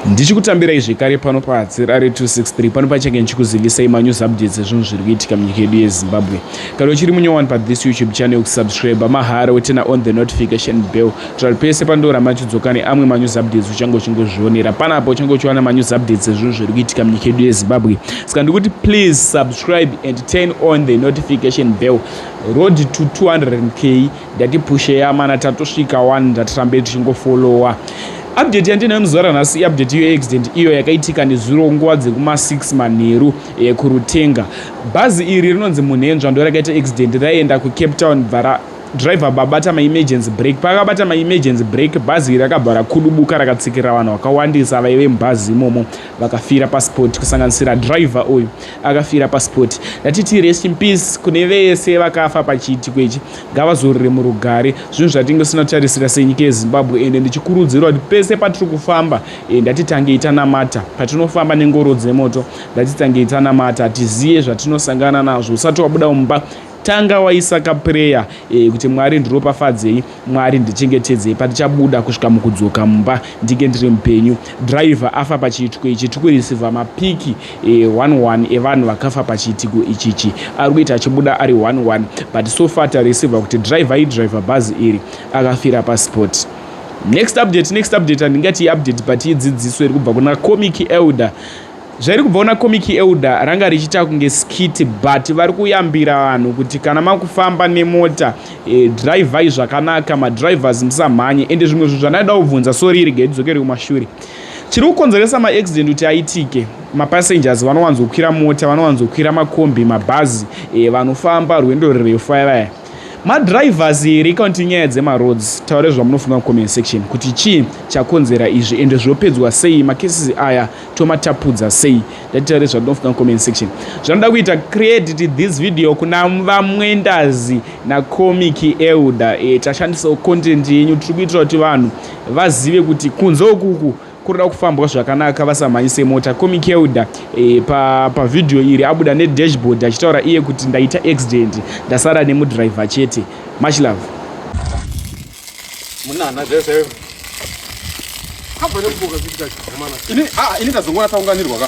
ndichikutambirai zvekare pano pahatsira re 263 pano pachange ndichikuzivisai manews updates ezvinhu zviri kuitika munyika yedu yezimbabwe kana uchiri munyowani pathis youtube channel kusubscribe mahara wetena on the notification bell tira pese pandora machiudzoka neamwe manews updates uchange uchingozvionera panapa uchange uchiwana manews updates ezvinhu zviri kuitika munyika yedu yezimbabwe saka ndikuti please subscribe and turn on the notification bell road to 200k Ndatipusheya mana tatosvika one ndatirambe tichingofollowa update yandinayo muzvara nhasi iupdate iyo accident iyo yakaitika nezuro nguva dzekuma6 manheru eh, kurutenga bhazi iri rinonzi munhenzva ndo rakaita accident raienda kucape town bvara driver babata maemergency break pakabata maemergency break bhazi iri rakabva rakudubuka rakatsikirira vanhu vakawandisa vaive mubhazi imomo vakafira pasport kusanganisira driver uyu akafira pasport ndatiti rest in peace kune vese vakafa pachiitiko ichi ngavazorore murugare zvinhu zvatinge tisina tarisira senyika yezimbabwe ende ndichikurudzirwa kuti pese patiri kufamba e, ndatitangei tanamata patinofamba nengoro dzemoto ndatitangei tanamata tiziye zvatinosangana nazvo usati wabuda mumba tanga waisa kapureya e, kuti mwari ndiropafadzei mwari ndichengetedzei patichabuda kusvika mukudzoka mumba ndinge ndiri mupenyu driver afa pachiitiko ichi tikurisivha mapiki one one evanhu vakafa pachiitiko ichichi ari kuita achibuda ari one one but so far tareceiva kuti driver idriver bhazi iri akafira pasport next update next update handingati iupdate but idzidziso iri kubva kuna comic elder zvairi kubva kuna comic elder ranga richiita kunge skit but vari kuyambira vanhu kuti kana makufamba nemota e, drivai zvakanaka madrivers musamhanye ende zvimwe zvinhu zvandaidawo kubvunza soriri gaidzokere kumashure Chiri kukonzeresa maaccident kuti aitike mapassengers vanowanzokwira mota vanowanzokwira makombi mabhazi e, vanofamba rwendo rurefu vaya vaya madrivers here kana kuti nyaya dzemaroads taure zvamunofunga mucomment section kuti chii chakonzera izvi ende zvopedzwa sei macases aya tomatapudza sei ndati taure zvatinofunga mucomment section zvanoda kuita credit this video kuna vamwendazi nacomic elder e, tashandisawo content yenyu tiri kuitira kuti vanhu vazive kuti kunze ukuku kurida kufambwa zvakanaka vasamhanyise mota komikelda e, eh, pavhidhiyo pa iri abuda nedashboard achitaura iye kuti ndaita accident ndasara nemudriver chete much love munana zvese kabva nekuboka zviita zvikomana ini ah, ini ndazongoona taunganirwa ka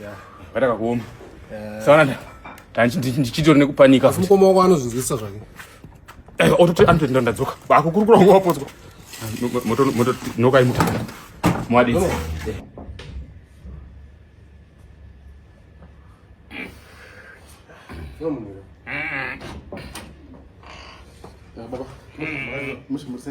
Yeah. Vatakakuoma. Yeah. Sawana ndichitori nekupanika asi mukoma wako anozvinzwisisa zvake eh, ototi anototi ndandadzoka akukurukura ngo wapodzwa mototinokaimua mwadii Baba, mushi musi.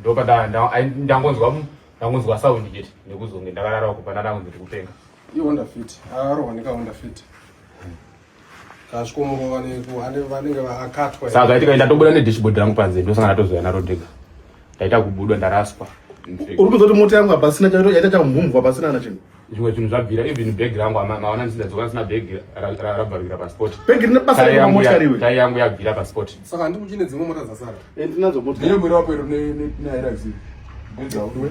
ndopandangonzwa ndangonzwa sound chete nekuzonge ndakarara uko pana ndangonzi ndiri kupenga ihonda fit akarohwa nekahonda fit kasvikomurova vanenge akatwa saka kaitika ndatobuda nedashboard rangu panze ndosanga ndatozoya naro ndega ndaita kubudwa ndaraswa uri kuzoti mota yangu hapasina yaita chamhumvwa pasina na chinhu zvimwe zvinhu zvabvira even bag rangu maona ndisidadzoka sina bag rabvarukira pasport bag rine basa remochariwe tai yangu yabvira pasport saka handikuchine dzimwe mota dzasara eh, ndinadzo mota ndiyo mwiri wako iro neairazivi ndidzaudwe